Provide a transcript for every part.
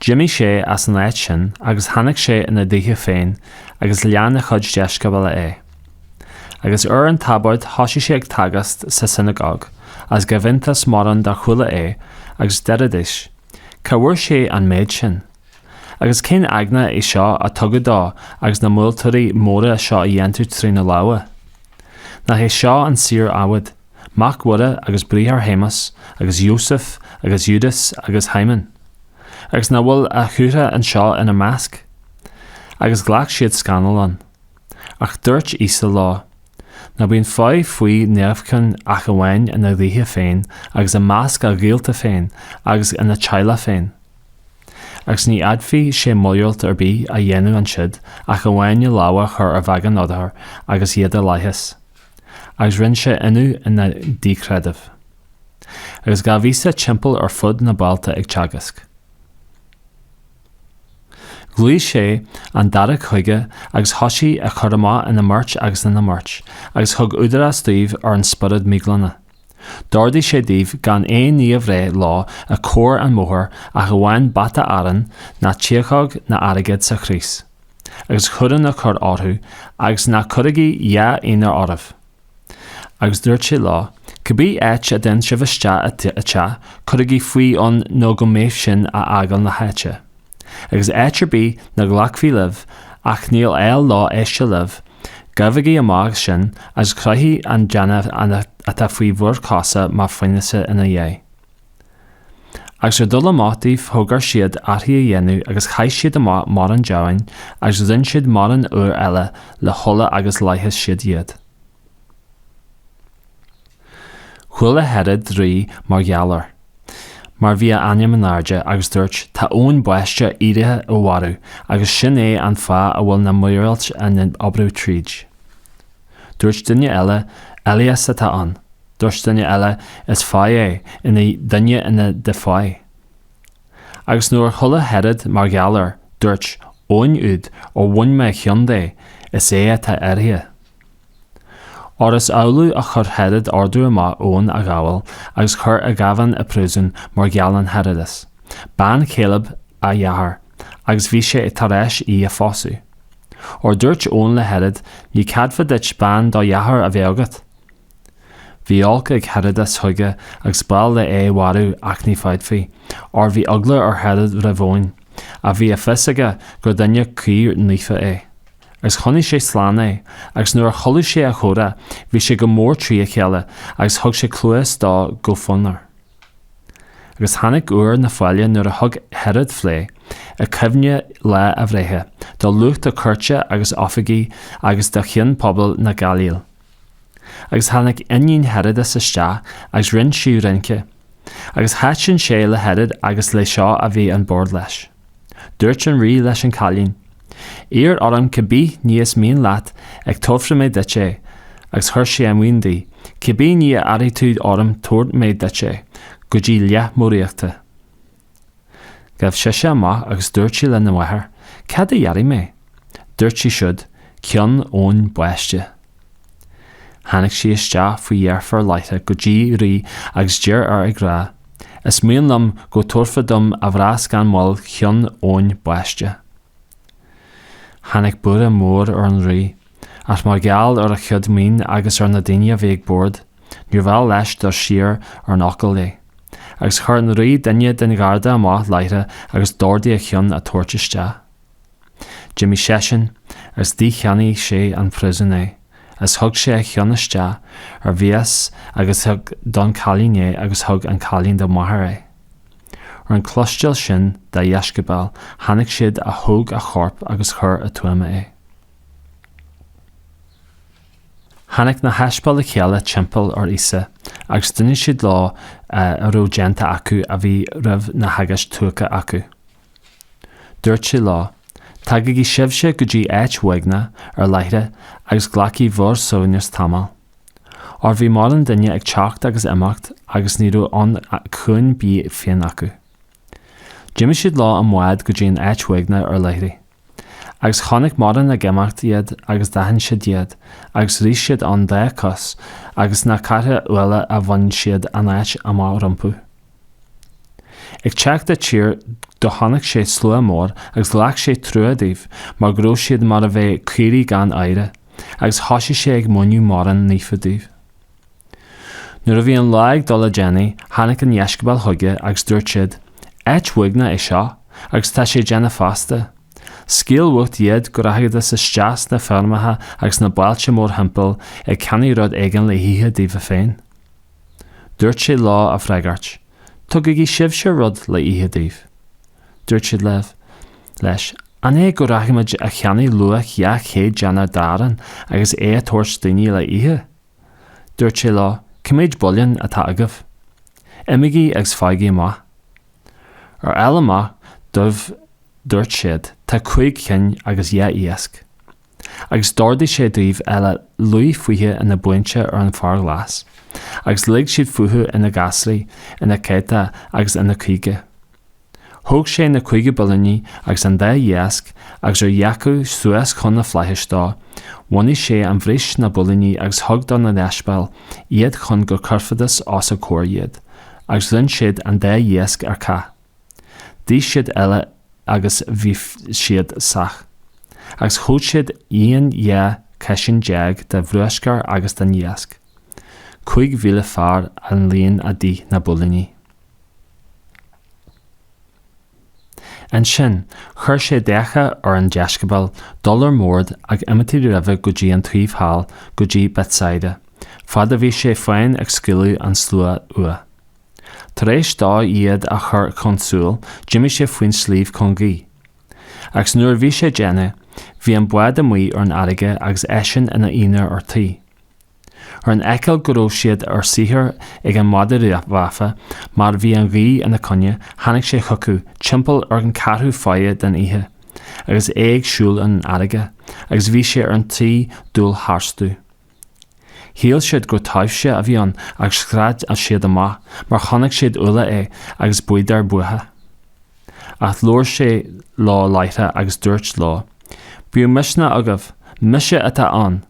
D'imigh sé as an áit sin agus tháinig sé ina dhúiche féin agus lean a chuid deisceabail é. Agus ar an tsabóid thosaigh sé ag teagasc sa tsionagóg, agus ghabh iontas mórán dár chuala é, agus deiridís, Cá bhfuair sé an méid sin? Agus cén eagna é seo a tugadh dó agus na míorúiltí móra seo a dhéantar trína lámha? Nach é seo an saor adhmaid? mac Mhuire agus bráthair Shéamas agus Iósaf agus Iúdás agus Shíomón? Agus nach bhfuil a shiúracha anseo ina measc? Agus ghlac siad scannal ann. Ach dúirt Íosa leo, Ní bhíonn fáidh faoi neamhchion ach amháin ina dhúiche féin agus i measc a ghaolta féin agus ina theaghlach féin. Agus ní fhéadfadh sé míorúilt ar bith a dhéanamh ansiud ach amháin a lámha chur ar bheagán othar agus iad a leigheas. agus rinne sé ionadh ina díchreideamh. Agus ghabh Íosa timpeall ar fud na bailte ag teagasc. Ghlaoigh sé an dáréag chuige agus thosaigh a chur amach ina mbeirt agus ina mbeirt, agus thug údarás dóibh ar an spiorad míghlana. D'ordaigh sé dóibh gan aon ní a bhreith leo i gcomhair an mbóthair ach amháin bata arán ná tiachóg ná airgead sa chrios. agus cuaráin a chur orthu agus ná cuirigí dhá ionar oraibh. Agus dúirt sé leo, Cibé áit a dtéann sibh isteach i dteach, cuirigí fúibh ann nó go mbeidh sibh ag fágáil na háite. Agus áit ar bith nach nglacfaí libh ach níl áil leo éisteacht libh, gabhaigí amach as sin agus croithigí an deannach atá faoi bhur gcosa mar fhianaise ina dhiaidh. Agus ar dhul amach dóibh d'fhógair siad aithrí a dhéanamh agus chaith siad amach mórán deamhain agus dhein siad mórán othar eile le hola agus leigheas siad iad. Chuala Herod rí mar gheall air, mar bhí a ainm in airde, agus dúirt, Tá Eoin Baiste éirithe ó mhairbh, agus sin é an fáth a bhfuil na míorúilt á n-oibriú tríd. Dúirt duine eile, Elias atá ann. Dúirt duine eile, Is fáidh é, ina duine ina de fáidh. Agus nuair a chuala Herod mar gheall air, dúirt, Eoin úd, ar bhain mé a cheann de, is é atá éirithe. Óir is amhlaidh a chuir Herod ordú amach Eoin a ghabháil agus a chur i ngéibheann i bpríosún mar gheall ar Herodas, bean Philib a dhearthár, agus bhí sé tar éis í a phósadh. Óir dúirt Eoin le Herod, Ní ceadaithe duit bean do dhearthár a bheith agat. Bhí olc ag Herodas chuige agus b'áil léi é mharú ach ní féadfaí, óir bhí eagla ar Herod roimh Eoin, ach bhí a fios aige gur duine cóir naofa é. Agus choinnigh sé slán é, agus nuair a chualaidh sé a chomhrá bhí sé go mór trí a chéile agus thug sé cluas dó go fonnmhar. Agus tháinig uair na faille nuair a thug Herod fleá, i cuimhne lá a bhreithe, do lucht a chúirte agus oifigigh agus do chinn pobail na Gailíle. Agus tháinig iníon Herodas isteach agus rinn sí rince. Agus thaitin sé le Herod agus leo seo a bhí an bord leis. Dúirt an rí leis an cailín, Iarr orm cibé ní is mian leat ag tabharfaidh mé duit é, agus chuir sé a mhionn di, Cibé ní a iarrfaidh tú orm tabharfaidh mé duit é, go dtí leath mo ríochta. Ghabh sise amach agus dúirt sí lena mháthair, Cad a d'iarrfaidh mé? Dúirt sí siúd, Ceann Eoin Baiste. Tháinig sí isteach faoi dheifir láithreach go dtí rí agus d'iarr air ag rá, Is mian liom go dtabharfá dom ar mhias gan mhoill Ceann Eoin Baiste. Tháinig buaireadh mór ar an rí. ach mar gheall ar a chuid mionn agus ar na daoine a bhí ag bord, níorbh áil leis dul siar ar an fhocal léi, agus chuir an Rí duine den gharda amach láithreach agus d'ordaigh a cheann a tabhairt isteach. D'imigh seisean agus dhícheannaigh sé an phríosún é, agus thug sé a cheann isteach ar mhias agus thug don chailín é agus thug an cailín dá máthair é. Ar an cloisteáil sin dá dheisceabail tháinig siad a thóg a chorp agus chuir i tuama é. Tháinig na haspail le chéile timpeall ar Íosa agus d'inis siad leo a raibh déanta acu a bhí roimh na theagasc tugtha acu. Dúirt sé leo, Tagaigí sibhse go dtí áit uaigneach ar leithrigh agus glacaigí bhur suaimhneas tamall. Óir bhí mórán duine ag teacht agus imeacht agus ní raibh am chun bídh féin acu. D'imigh siad leo i mbád go dtí an áit uaigneach ar leithrigh. Agus chonaic mórán ag imeacht iad agus d'aithin siad iad agus rith siad ann dá gcois agus na cathracha uile a bhain siad an áit amach rompu. Ag teacht i dtír dó chonaic sé slua mór agus ghlac sé trua dóibh mar go raibh siad mar a bheadh caoirigh gan aoire agus thoisigh sé ag múineadh mórán nithe dóibh. Nuair a bhí an lá ag dul i déanaí tháinig a dheisceabail chuige agus dúirt siad, Áit uaigneach é seo, agus tá sé déanach feasta. Scaoil uait iad go rachaidís isteach sna feirmeacha agus na bailte mórthimpeall ag ceannach rud éigin le hithe daofa féin. Dúirt sé leo á bhfreagairt, Tugaigí sibhse rud le hithe dóibh. Dúirt siad leibh, leis. An é go rachaimid a cheannach luach 200 déanar d'arán agus é a thabhairt dóibh le hithe? Dúirt sé leo, Cé mhéad builín atá agaibh. Imigí agus faighigí amach. Ar fháil amach dóibh dúirt siad, Tá cúig cinn agus dhá iasc. Agus d'ordaigh sé dóibh uile luí fúthu ina mbuíonta ar an bhféar glas. Agus lig siad fúthu ina ngasraí, ina céadta agus ina caoga. Thóg sé na cúig builíní agus an dá iasc agus ar dhearcadh suas chun na flaithis dó, bheannaigh sé an bhris na builíní agus thug do na deisceabail iad chun go gcuirfidís os a gcomhair iad, agus roinn siad an dá iasc ar cách. D'ith siad uile agus bhí siad sách. Agus thóg siad líon dhá chiseán déag de bhruascar agus den iasc. Cúig mhíle fear an líon a d'ith na builíní. Ansin chuir sé d'fhiacha ar an deisceabail dul ar mbord ag imeacht roimhe go dtí an taobh thall go dtí Bethsaida, fad a bhí sé féin ag scaoileadh an slua uaidh. Tar éis dó iad a chur chun siúil, d'imigh sé faoin sliabh chun guí. Agus nuair a bhí sé déanach, bhí an bád amuigh ar an fharraige agus eisean ina aonar ar tír. Ar an fheiceáil go raibh siad ar saothar ag an maide rámha, mar bhí an ghaoth ina coinne, tháinig sé chucu, timpeall ar an ceathrú faire den oíche, agus é ag siúl ar an fharraige, agus bhí sé ar an tí dul tharstu. Shíl siad gur taibhse a bhí ann agus scread siad amach mar chonaic siad uile é agus bhíodar buartha. Ach labhair sé leo láithreach agus dúirt leo, Bíodh misneach agaibh, mise atá ann!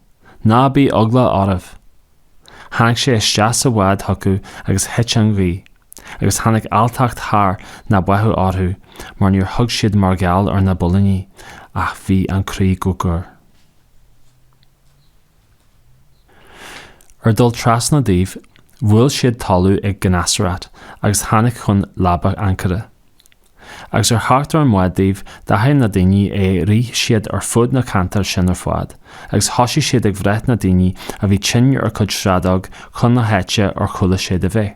Ná bíodh eagla oraibh! Tháinig sé isteach sa bhád chucu agus thit an ghaoth, agus tháinig alltacht thar na bearta orthu mar níor thuig siad mar gheall ar na builíní ach bhí an croí go dúr. Ar dhul trasna dóibh, bhuail siad talamh ag Genasarat agus tháinig chun leaba ancaire. Agus ar theacht ar an mbád dóibh, d'aithin na daoine é Rith siad ar fud na ceantar sin ar fad agus thosaigh siad ag breith na daoine a bhí tinn ar a gcuid sráideog chun na háite ar chuala siad a bheith.